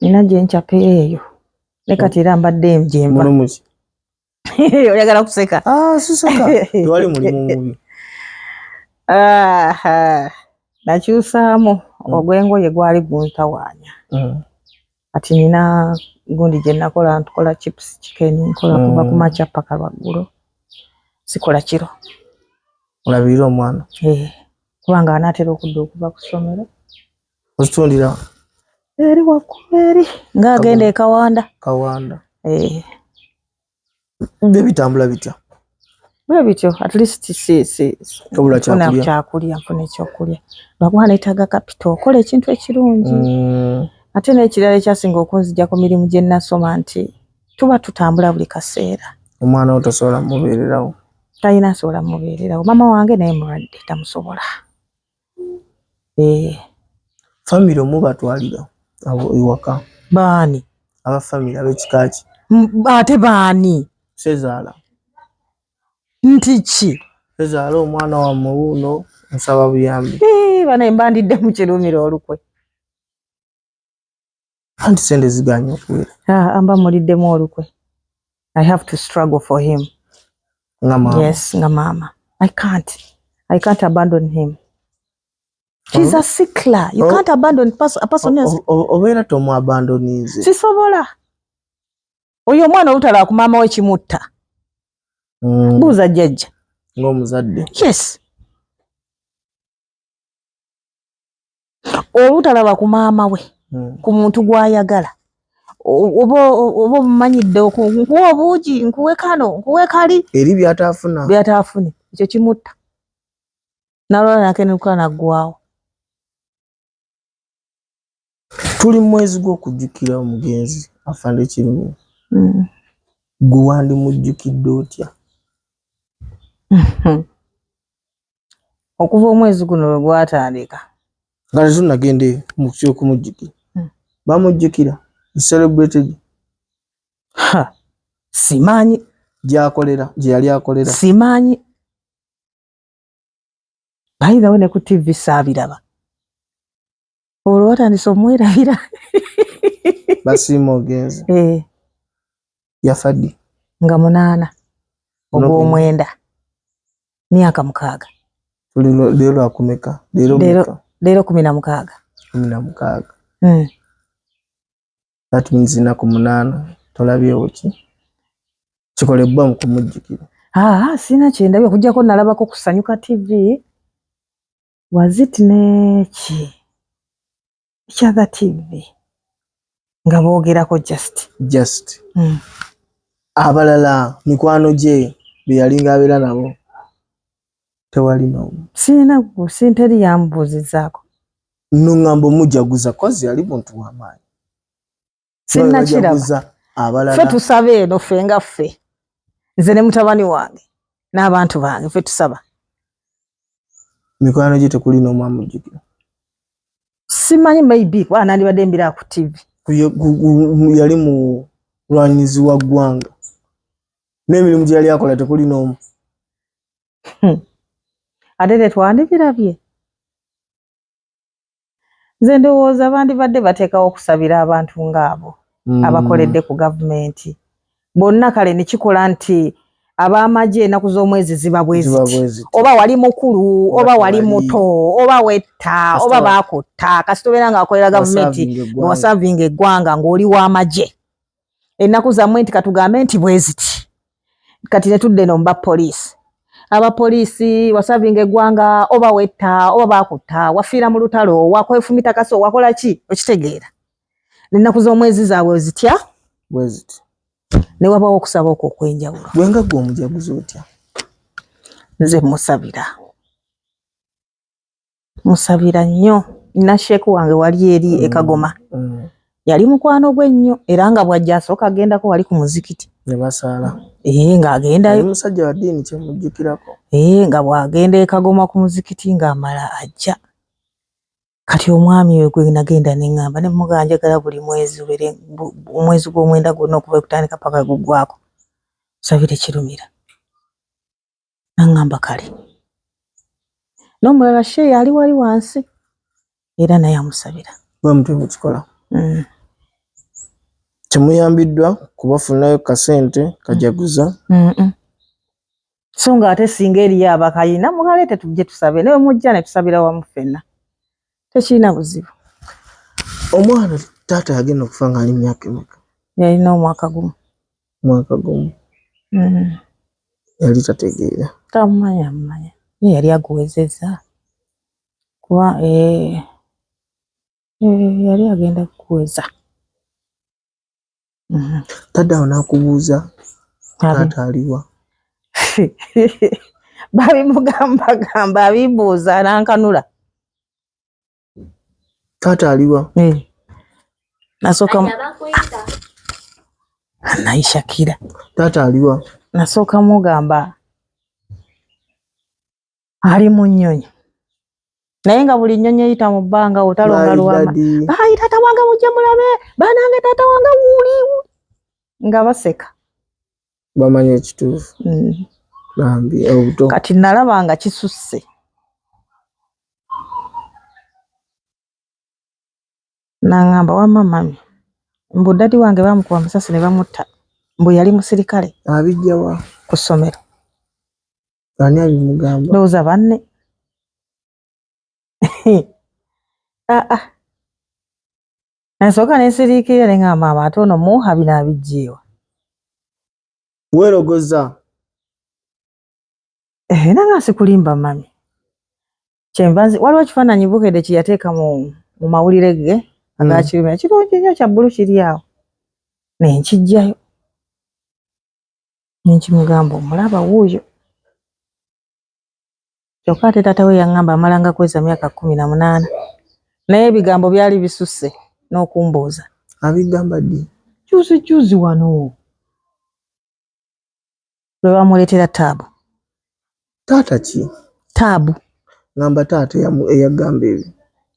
nina gye nkyapa eyo ne kati era mbadde gyemba oyagala kuseka ah, siseka tewali mulimu mubi nakyusaamu mm. ogw'engoye gwali guntawaanya mm. kati nina gundi gye nakola ntukola chips chicken nkola kuva mm. ku makya paka lwaggulo sikola kiro olabirira omwana eh, kubanga anaatera okudda okuva ku ssomero Ozitundira eri waggulu eri nga agenda ekawanda kawanda eh. byo bitambula bitya bwe bityo at least sifuna kyakulya nfuna ekyokulya lwakuba neetaaga kapito okola ekintu ekirungi mm. ate n'ekirala ekyasinga okunzija ku mirimu gye nasoma nti tuba tutambula buli kaseera omwana wo tasobola mubeererawo talina asobola mubeererawo maama wange naye mulwadde tamusobola Eh, famire omubatwalira awo ewaka baani? Aba famire ab'ekika ki? Ate baani? Sezaala. Nti ki? Sezaala omwana wammwe wuuno nsaba buyambi. Eh, bana embandidde mu kirumira olukwe. anti sente ziganye okuwera ah, amba muliddemu olukwe i have to struggle for him nga mama yes nga mama i can't i can't abandon him she's oh. a sickler you oh. can't abandon pers a person oh, else oh, obeera oh, tomu abandonize sisobola oyo omwana olutala ku maama we kimutta mm. buuza jjajja ng'omuzadde yes obutalaba ku maama we hmm. ku muntu gw'ayagala oba omumanyidde nkuwa obuugi nkuwe kano nkuwe kali eri byataafuna byataafune ekyo kimutta nalwala nakenuka naggwawo tuli mu mwezi gw'okujjukira omugenzi afande kirimu mm. gwe wandimujjukidde otya okuva omwezi guno lwe gwatandika nga tetunagende mu kyokumujjukira mm. bamujjukira celebrated simanyi gyakolera gyeyali akolera simanyi bayirawo ne ku tv saabiraba olwo watandise omwerabira basiima ogenze eh. yafadi nga munaana ogwomwenda myaka mukaaga leero akumeka leero kumi na mukaaga kumi na mukaaga hmm. that means ennaku munaana tolabyewo ki kikolebbwa mu kumujjukira aa ah, sirina kyendabye okujjako nalabako kusanyuka tv wazit neki ekyatha tv nga boogerako just just mm. abalala mikwano gye beyalinga abeera nabo tewali n'omu sirina gusi teri yamubuuzizaako no ŋŋamba omujaguza kozi yali muntu w'amaanyi sinakiraguza abalala fe tusaba eno fe nga ffe nze ne mutabani wange n'abantu bange fe tusaba mikwano gye tekuli n'omu amujjukira simanyi maybe kuba nandibadde mbira ku tivi yali mulwanyizi wa ggwanga n'emirimu gye yali akola tekuli n'omu hmm. ate tetwandibirabye nze ndowooza bandibadde bateekawo okusabira abantu ng'abo hmm. abakoledde ku gavumenti bonna kale ne kikola nti ab'amagye enaku z'omwezi ziba bweziti oba wali mukulu oba wali muto oba wetta oba baakutta kasita obeera ng'akolera gavumenti ng'osavinga eggwanga ng'oli w'amagye ennaku zammwe nti katugambe nti bweziti kati netudde no mba poliisi aba poliisi wasavinga eggwanga oba wetta oba bakutta wafiira mu lutalo wakwefumita kasi owakola ki okitegeera nennaku z'omwezi zaabwe zitya bweziti ne wabawo okusaba okwo okwenjawulo gwe nga gwe omujaguzi otya nze musabira musabira nnyo nina sheeku wange wali eri mm. ekagoma mm. yali mukwano gwe nnyo era nga bwajja asooka agendako wali ku muzikiti nebasaala ee eh, ng'agendayo omusajja wa ddiini kyemujjukirako ee eh, nga bw'agenda ekagoma ku muzikiti ng'amala ajja kati omwami we gwe nagenda ne ŋŋamba ne mugaa njagala buli mwezi ubere omwezi gw'omwenda gwonna okuva ekutandika paka gugwako sabire kirumira Naŋŋamba kale. N'omulala sheeyi ali wali wansi era naye amusabira. Bwe mutyo bwe kikola. Mm. Temuyambiddwa kubafunirayo kasente kajaguza. Mm -mm. So ng'ate singa eriyo abakayina mukaleete tujje tusabe naye mujja ne tusabira wamu ffenna. tekirina buzibu omwana taata yagenda okufa ngaali myaka emeka yalina omwaka gumu mwaka gumu mm. yali tategeera tamumanya mumanya ye yali aguwezeza kuba eh, eh, yali agenda kuweza Mhm. Tadde awo n'akubuuza taata aliwa? Babimugambagamba abimbuuza n'ankanula. Taata aliwa? Eh. Nasooka naye Shakira. Taata aliwa? Nasooka mugamba ali mu nnyonyi naye nga buli nnyonyi eyita mu bbanga otalonga luwama bayi taata wange mujje mulabe banange taata wange wuli nga baseka bamanya ekituufu mm. eh, kati nalaba nga kisusse nangamba wamma mami mbu dadi wange bamukuba amasasi ne bamutta mbu yali musirikale abijjawa ku ssomero ani abimugamba ndowooza banne aa ah, ah. nasooka nesiriikirira ne ngamba maama ate ono muha bino abijjeewa weerogoza eh, nanga sikulimba mami kyenva nzi waliwo ekifaananyi bukedde kye yateeka mu mu mawulire ge mm. agakirumira kirungi nnyo kya bbulu kiri awo ne nkijjayo nenkimugamba omulaba wuuyo kyokka ate taata we yaŋŋamba amalanga kweza myaka kkumi na munaana naye ebigambo byali bisusse n'okumbuuza abigamba ddi juzi juzi wano lwe bamuleetera taabu taata ki taabu ngamba taata eyagamba ebyo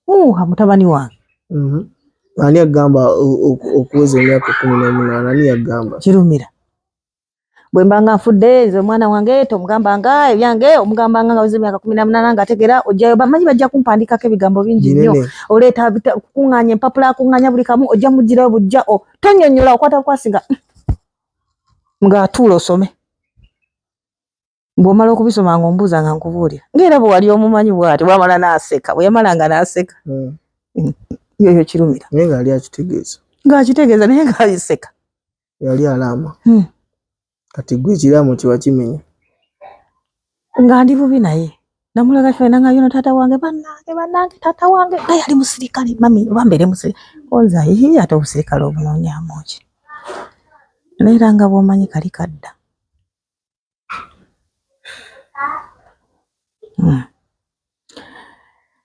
uha mutabani wange mhm. ani agamba okuweza emyaka kumi nomunaana ani yagamba kirumira bwembanga nfudde nze omwana wange tomugambanga ebyange omugambanga nga weza emyaka kumi namunaana nga ategera ojjayo bamanyi bajja kumpandikako ebigambo bingi nnyo oleeta kukuŋŋanya empapula akuŋŋanya buli kamu ojja mugirayo bujja o tonyonyola okwata bukwasinga nga atuula osome bw'omala okubisoma nga ombuuza nga nkubuulira ngaera bwe wali omumanyi bwati bwamala n'aseka bwe yamala nga n'aseka hmm. yoyo kirumira naye nga yali akitegeeza ng'akitegeeza naye ng'ayiseka yali alaama hmm. kati gwe ekiraamo kiba kimenya nga ndi bubi naye namulaga fena nga yono taata wange banange banange taata wange nga yali musirikale mami oba mbeere musirikale oza yii ate obusirikale obunonyamu ki naye era nga bwomanyi kali kadda hmm.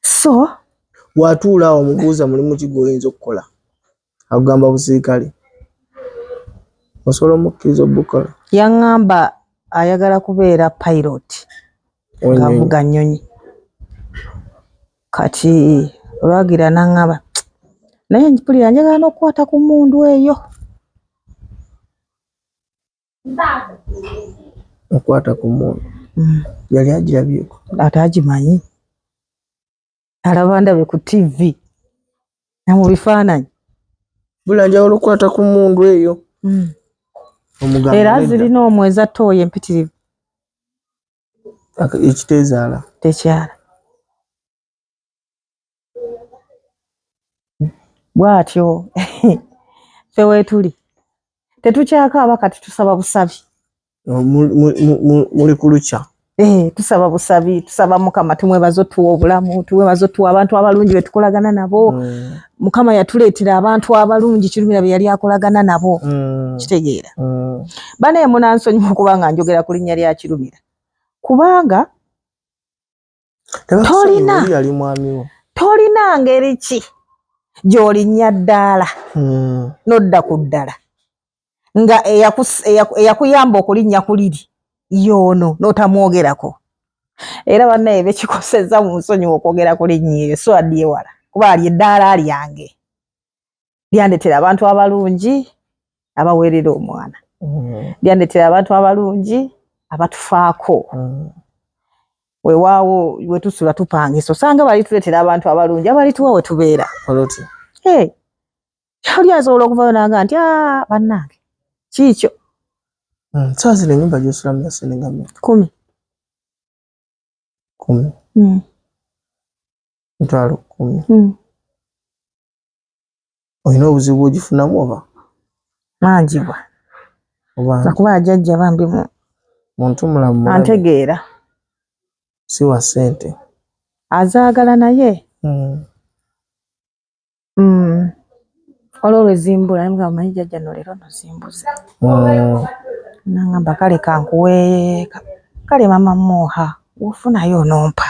so watuula awo mubuuza mulimu ki gwoyinza okukola akugamba busirikale osobola omukkiriza obukola yaŋŋamba ayagala kubeera pilot ngaavuga nnyonyi kati olwagira naŋŋamba naye mpulira njagala n'okukwata ku mundu eyo okwata ku mwoyo mm. yali agirabyeko ate agimanyi alaba ndabe ku tv na mu bifaananyi bula njawulo okukwata ku mundu eyo mm. era zirina omwezi atte oyo empitirivu ekitezaala tekyala bwatyo fe wetuli tetukyakaaba kati tusaba busabi oh, muli kulukya Eh, tusaba busabi tusaba mukama tumwebaza otuwa obulamu tumwebaza otuwa abantu abalungi betukolagana nabo mm. mukama yatuleetera abantu abalungi kirumira beyali akolagana nabo mm. kitegeera mm. banaye munansonyiwa okuba nga njogera ku linnya lya kirumira kubanga tolina tolina ngeri ki gy'olinnya ddaala hmm. n'odda ku ddala nga eyakuyamba okulinnya ku liri yoono n'otamwogerako era bannaye bekikosezza mu nsonyiwa okwogera ku linnyi eyo so addi ewala kuba ali eddaala lyange lyandetera abantu abalungi abaweerera omwana mm. lyandetera abantu abalungi abatufaako mm. wewaawo wetusula tupangisa osanga balituletera abantu abalungi abalituwa wetubeera oli asobola okuvayo nanga nti ah, bannange kiikyo mm, saazira enyumba gyosulamu yasenegame kumi kumi mitwalo kumi olina obuzibu bwogifunamu oba manjibwa akuba ajajja bambi mu muntu mulamu antegeera si wa sente azaagala naye hmm. Hmm. olwo lwezimbula nga omanyi jajja no leero nozimbuza hmm. nangamba kale kankuwe kale mama muha wofunayo onompa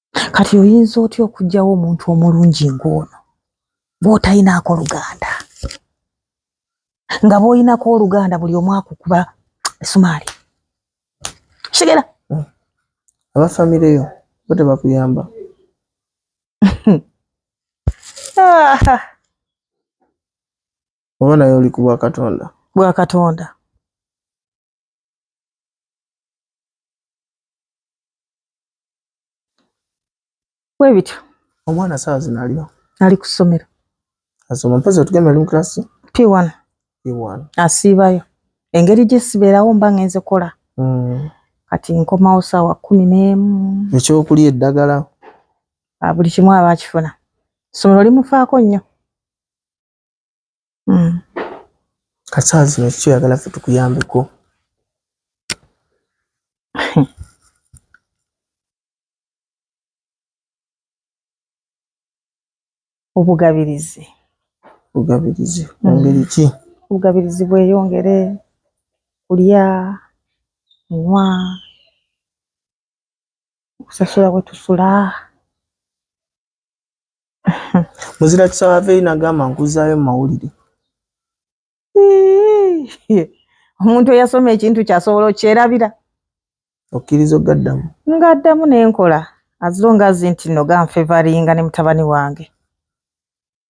kati oyinza otya okugyawo omuntu omulungi ng'ono bwotalinaako luganda nga bwolinako oluganda buli omu akukuba esumaali kigera hmm. aba famire yo bo tebakuyamba oba naye oli ku bwakatonda bwakatonda bwe bityo omwana saawa zino aliwa ali ku ssomero asoma mpozzi otugamba ali mu kirasi p one p one asiibayo engeri gye sibeerawo mba ngenze kola mm. kati nkomawo saawa kumi n'emu ekyokulya eddagala ah, buli kimu aba akifuna ssomero limufaako nnyo Hmm. Kasaa zino kiki oyagala ffe tukuyambeko? Obugabirizi. Obugabirizi mu hmm. ngeri ki? Obugabirizi bweyongere kulya, kunywa, okusasula we tusula. muzira kisaba aveeyo nagamba nkuzaayo mu mawulire omuntu eyasoma ekintu kyasobola okyerabira okkiriza ogaddamu ngaddamu nenkola azilonga azi nti no ganfevaringa ne mutabani wange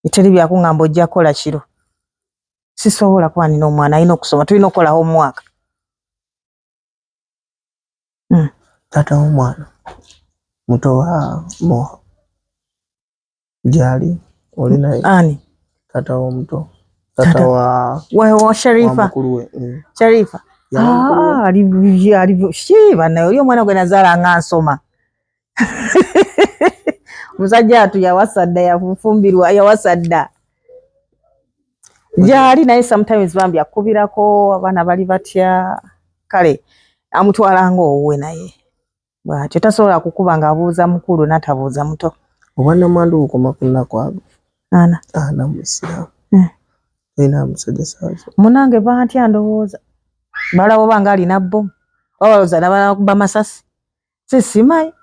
eteri byakuŋamba ojja kukola kiro sisobola kuba nina omwana alina okusoma tulina okukola homework Hmm. Taata w'omwana muto wa Moha gyali oli naye ani? Taata w'omuto taata wa wa Sharifa mukulu we hmm. Sharifa ah, ali ali shi bana, uyo mwana gwe nazala nga nsoma omusajja atu yawasadda yafumbirwa yawasadda gyali naye sometimes bambi akubirako abaana bali batya kale amutwala nga owuwe naye bwatyo tasobola kukuba nga abuuza mukulu natabuuza muto obwanamwandu bukoma kunakwago ana ana musiramu eh. ina musajja sazo munange bantya ndowooza balawo banga alina bomu babalooza nabanakuba masasi sisimayi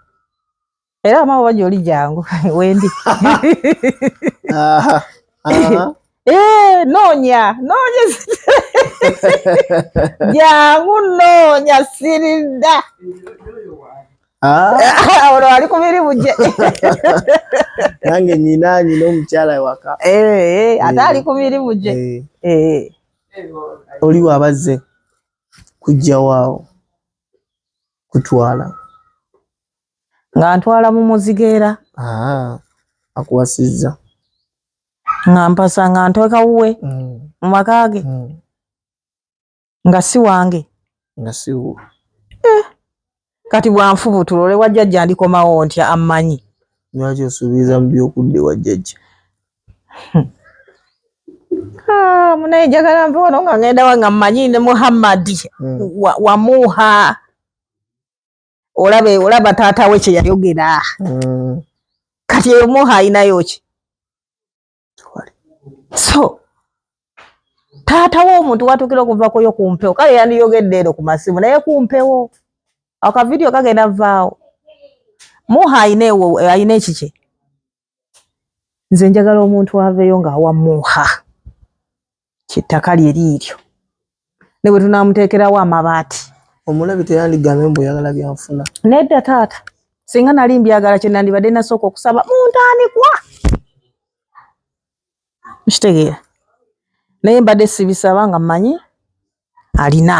era amama oba gyoli jangu wendi eh, noonya noonya jangu noonya siridda Ah. olwo wali ku mirimu gye nange nyina nyina omukyala ewaka eh, eh, ate eh. ali ku mirimu gye oliwo abazze kujjawaawo kutwala nga ntwala mu muzigo era akuwasizza nga mpasa nga ntweka wuwe mm. mu maka ge mm. nga si wange nga si wuwe eh, kati bwanfubutula ole wajjajja ndikomawo ntya ammanyi lwaki osuubiza mu byokudde wajjajja Ah, munaye njagala nva wano nga ngenda wa nga mmanyi ne muhammadi hmm. wamuuha olabe olaba taata we kye yayogera hmm. kati eyo muuha ayinayo ki so taata we omuntu watuukira okuvakoyo ku mpewo kale yandiyogedde ero ku masimu naye ku mpewo akavidiyo kagenda vaawo muuha ayina ekikye nze njagala omuntu aveeyo ng'awa muuha kyettaka lye liiryo ne bwe tunaamuteekerawo amabaati omulabi teyandigambe mbu oyagala byanfuna nedda taata singa nali mbyagala kye nandibadde nasooka okusaba mu ntandikwa mukitegeera naye mbadde sibisaba nga mmanyi alina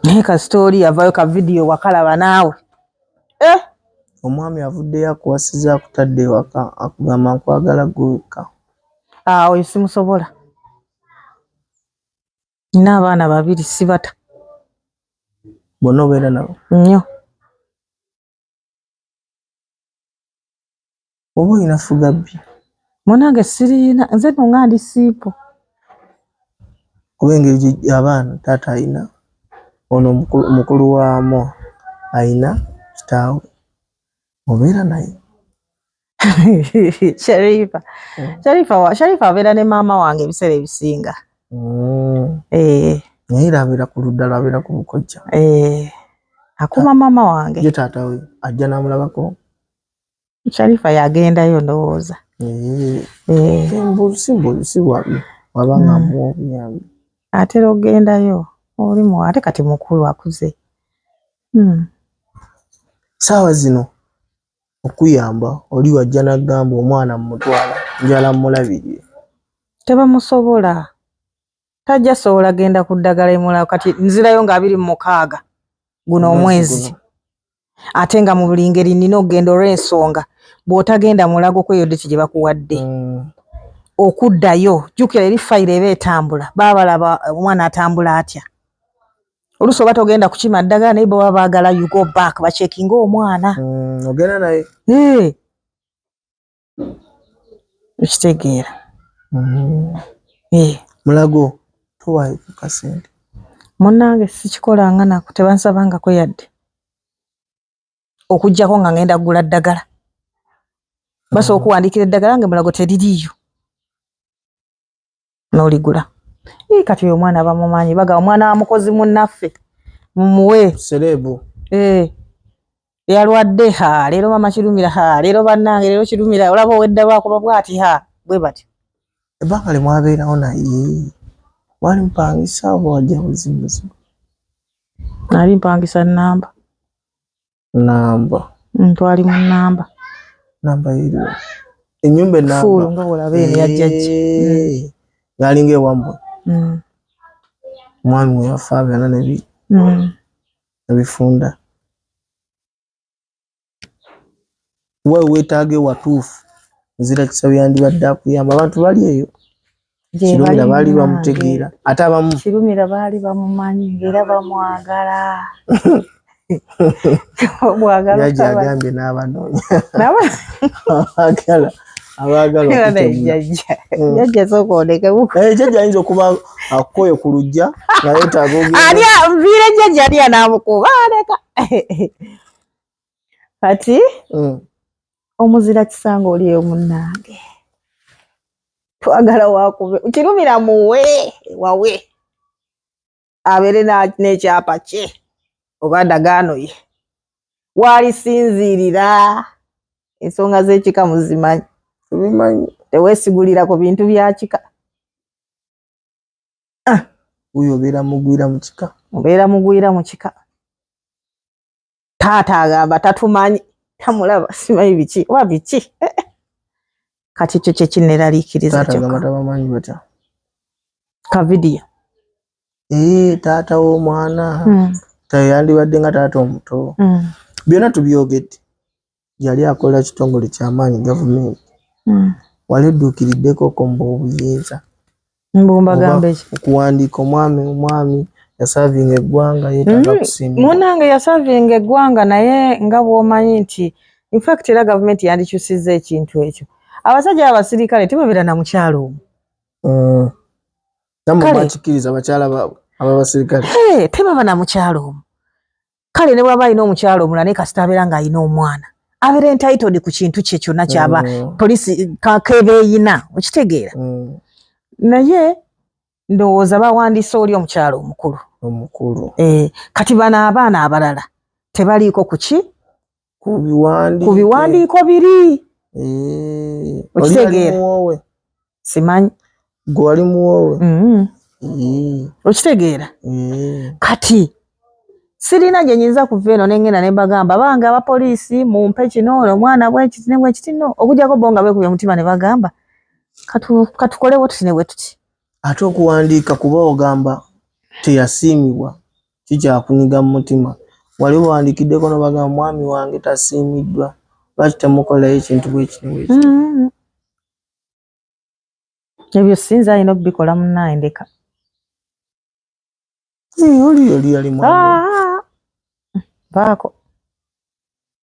naye kasita oli yavayo ka vidiyo wakalaba naawe eh? omwami avuddeyo akuwasiza akutadde ewaka akugamba nkwagala gwewekka ah, oyo simusobola nina abaana babiri sibata bona obeera nabo nnyo oba olina fugabbi munange siriina nze no nga ndi siipo kuba engeri abaana taata alina ono mukulu waamu alina kitaawe obeera naye Sharifa. Mm. Sharifa wa Sharifa abeera ne maama wange ebiseera ebisinga. Mm. Eh. Naye abeera ku ludda lwabeera ku bukojja. Eh. Akuma maama wange. Ye taata we ajja n'amulabako. Sharifa yagendayo ndowooza. Eh. Eh. Simbu siwabi wabanga mm. mu obuyambi. Atera ogendayo oli mu ate kati mukulu akuze. Mm. Sawa zino. okuyamba oli wajja nagamba omwana mumutwala njala mulabirire tebamusobola tajja sobola genda ku ddagala emulao kati nzirayo nga abiri mu mukaaga guno omwezi ate nga mu buli ngeri nina okugenda olw'ensonga bw'otagenda mulago kweyo deti gye bakuwadde mm. okuddayo jjukira eri fayiro eba etambula baabalaba omwana atambula atya olusi oba togenda kukima ddagala naye baba baagala you go back bakyekinga omwana mm, ogenda naye eh. okitegeera mm-hmm. eh. mulago towayo kukasente munange sikikolanga nako tebansabangako yadde okujjako nga ngenda kugula ddagala basobola mm-hmm. okuwandikira eddagala nge mulago teririiyo noligula ee kati oyo omwana bamumanyi baga omwana wa mukozi munaffe mumuwe serebu ee yalwadde ha leero mama kirumira ha leero bannange leero kirumira olaba owedda lwakuba bwati ha bwe bati ebbanga lye mwabeerawo naye wali mpangisa oba wajja buzibuzibu nali mpangisa namba namba ntwali mu namba namba eri enyumba enamba fulu nga olaba eri ya jajja eh, yali nga ewambo mm. mwami we yafa byana nebi mm. ebifunda kuba wewetaaga ewatuufu nzira kisa yandibadde akuyamba abantu bali eyo kirumira baali bamutegeera ate abamu kirumira baali bamumanyi era bamwagala jaji agambye n'abanoonyaagala abaagalajajajaja ayinza okuba akukoye ku lujja nayetaaga viire jaja alya namukuba aleka kati mm. omuzira kisanga oliyo munange twagala wakube kirumira muwe wawe abeere n'ekyapa kye oba ndagaano ye waalisinziirira ensonga z'ekika muzimanyi tubimanyi teweesigulira ku bintu bya kika ah. oyo obeera mugwira mu kika obeera mugwira mu kika taata agamba tatumanyi tamulaba simanyi biki oba biki eh, eh. kati ekyo kyekineraliikiriza kavidiyo ee eh, taata w'omwana hmm. teyandibadde nga taata omuto hmm. byonna tubyogedde yali akola kitongole kyamaanyi gavumenti hmm. wali edduukiriddekoko mbu obuyinza okuwandiika omwami omwami yasavinga eggwanga yetaga hmm. kusimba munange yasavinga eggwanga naye nga bwomanyi nti infact era gavumenti yandikyusizza ekintu ekyo abasajja abasirikale tebabeera na mukyalo omu hmm. namwe bakikiriza bakyala baabwe aba basirikale tebaba na mukyalo omu kale ne bwaba alina omukyalo omulala naye kasita abeera nga alina omwana abeera entitled ku kintu kye kyonna kyaba mm. polisi kakeba eyina okitegeera mm. naye ndowooza bawandiise oli omukyalo omukulu omukulu eh, kati bano abaana abalala tebaliiko kuki ku biwandiiko biri eh, okitegeera simanyi gwe wali muwoowe mm-hmm. eh. okitegeera eh. kati sirina gye nyinza kuva eno nengenda ne mbagamba bange abapoliisi mumpe kino ono omwana bwekiti ne bwekiti no okujjako bo nga beekubya omutima ne bagamba katukolewo tuti ne bwe tuti ate okuwandiika kuba ogamba teyasiimibwa kikyakunyiga mu mutima. Wali obawandiikiddeko n'obagamba mwami wange tasiimiddwa, lwaki temukolerayo ekintu bwe kiti bwe kiti? Mm-hmm. Ebyo sinza alina okubikola munnaye ndeka. Eh, oli yali yali mwami. Ah, baako.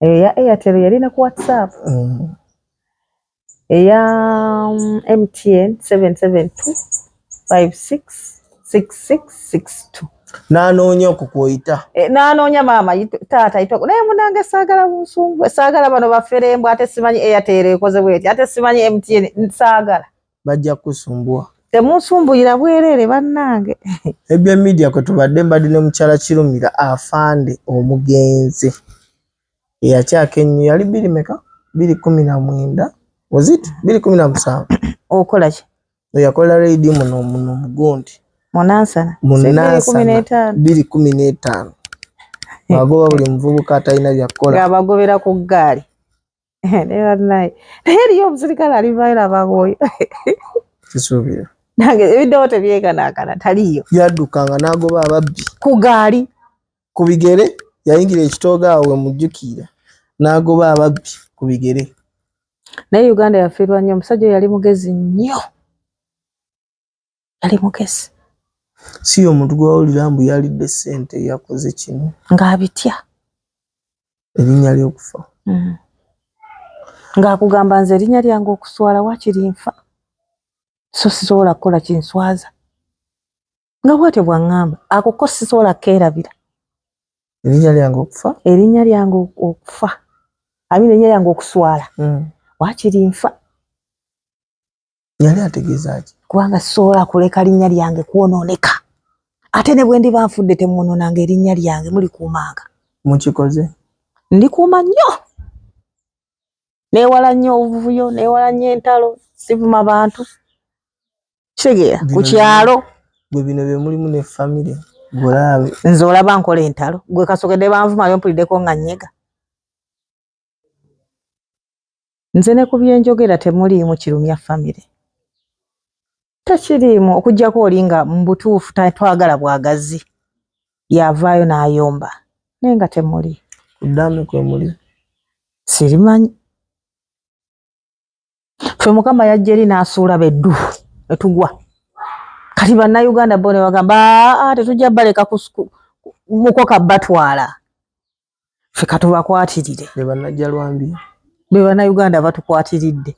eyo ya airtel yali ne ku whatsapp mm. eya mtn mm, 772566662 nanoonya okwo kwoyita e, nanoonya maama taata yitoko naye munange saagala bunsumbu saagala bano baferembu ate simanyi airtel ekozebweti ate simanyi mtn saagala bajja kusumbuwa temunsumbuira bwerere bannange ebye media kwe tubadde mbadde ne mukyala kirumira afande omugenzi eyakyaka ennyo yali biri meka biri kumi na mwenda ozit biri kumi na musanvu okola ki eyakola reidi muno muno mugundi munansana munansana biri kumi n'etaano agoba buli muvubuka atalina byakukola abagobera ku ggaali naye bannaye naye eriyo omusirikale ali vaira bagoyo kisuubira nange ebiddewo tebyekanaakana taliyo yaddukanga n'agoba ababbi ku gaali ku bigere yayingira ekitooga awo we mujjukiira n'agoba ababbi ku bigere naye uganda yafiirwa nnyo omusajja oyo yali mugezi nnyo yali mugezi si yo omuntu gwewawulira mbu yalidde sente yakoze kino ng'abitya erinnya ly'okufa mm. ng'akugamba nze erinnya lyange okuswala wakiri nfa so sisobola kukola kinswaza nga bwatyo bwaŋŋamba akuko sisobola keerabira erinnya lyange okufa erinnya lyange okufa ami nerinnya lyange okuswala mm. wakiri nfa yali ategeeza ki kubanga soola kuleka linnya lyange kwonooneka ate ne bwe ndiba nfudde temwonoonanga erinnya lyange mulikuumanga mukikoze ndikuuma nnyo neewala nnyo obuvuyo neewala nnyo entalo sivuma bantu kitegeera ku kyalo gwe bino bye mulimu ne famire gweolaabe nze olaba nkola entalo gwe kasogedde banvumayo mpuliddeko nga nnyega Nze ne ku bye njogera temuliimu kirumya famire, tekiriimu okuggyako oli nga mu butuufu twagala bwagazi y'avaayo n'ayomba naye nga temuli. Ku ddaame kwe muli? Sirimanyi. ffe mukama yajja eri n'asuula beddu ne tugwa kati bannayuganda bo ne bagamba aa tetujja baleka mukoka batwala ffe katubakwatirire be bannajja lwambi be bannayuganda batukwatiridde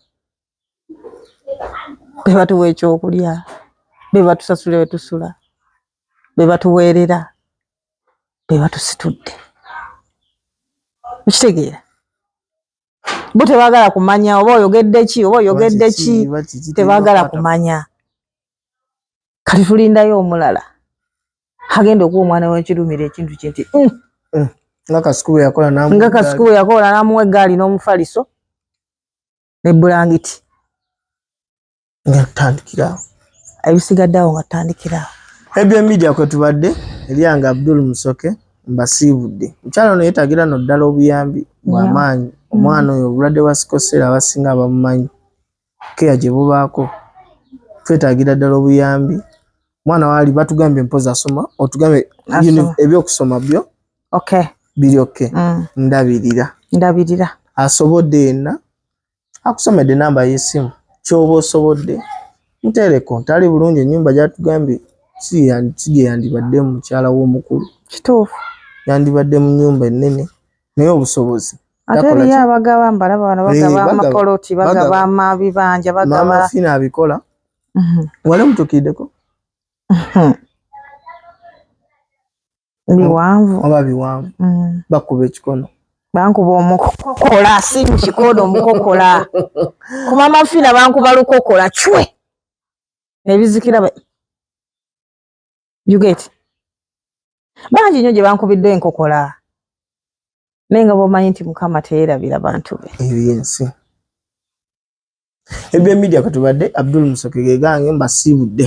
be batuwa ekyokulya be batusasula wetusula be batuweerera be batusitudde okitegeera bo tebagala kumanya oba oyogedde ki oba oyogedde ki tebagala kumanya kati tulindayo omulala agenda okuwa omwana wekirumira ekintu kinti mm. eh, nga kasikubu yakola namuwa egaali n'omufaliso ne bulangiti nga tutandikiraawo ebisigadde awo nga tutandikiraawo ebyo media kwe tubadde eryanga abdul musoke mbasiibudde mukyalo ono yetagira no ddala obuyambi bwamaanyi mm. omwana oyo obulwadde bwa sikoseera abasinga abamumanyi keya gye bubaako twetagira ddala obuyambi omwana waali batugambye mpozi asoma otugambye ebyokusoma byo biri oke mm. ndabirira ndabirira asobodde yenna akusomedde namba y'essimu kyoba osobodde muteereko tali bulungi ennyumba gyatugambye si gye yandibadde mukyala w'omukulu kituufu yandibadde mu nnyumba ennene naye obusobozi ate eriyo abagaba mbalaba bano bagaba eh, amapoloti bagaba amabibanja bagaba fina abikola mhm. wali mutukiddeko mhm. biwanvu oba biwanvu mm. bakuba ekikono bankuba omukokola si mukikono omukokola kumama fina bankuba lukokola cwe nebizikira yuget bangi nyo gyebankubidde enkokola naye nga bomanyi nti mukama teyerabira bantu be ebyensi ebye media katubadde abdul musoke gegange mbasiibudde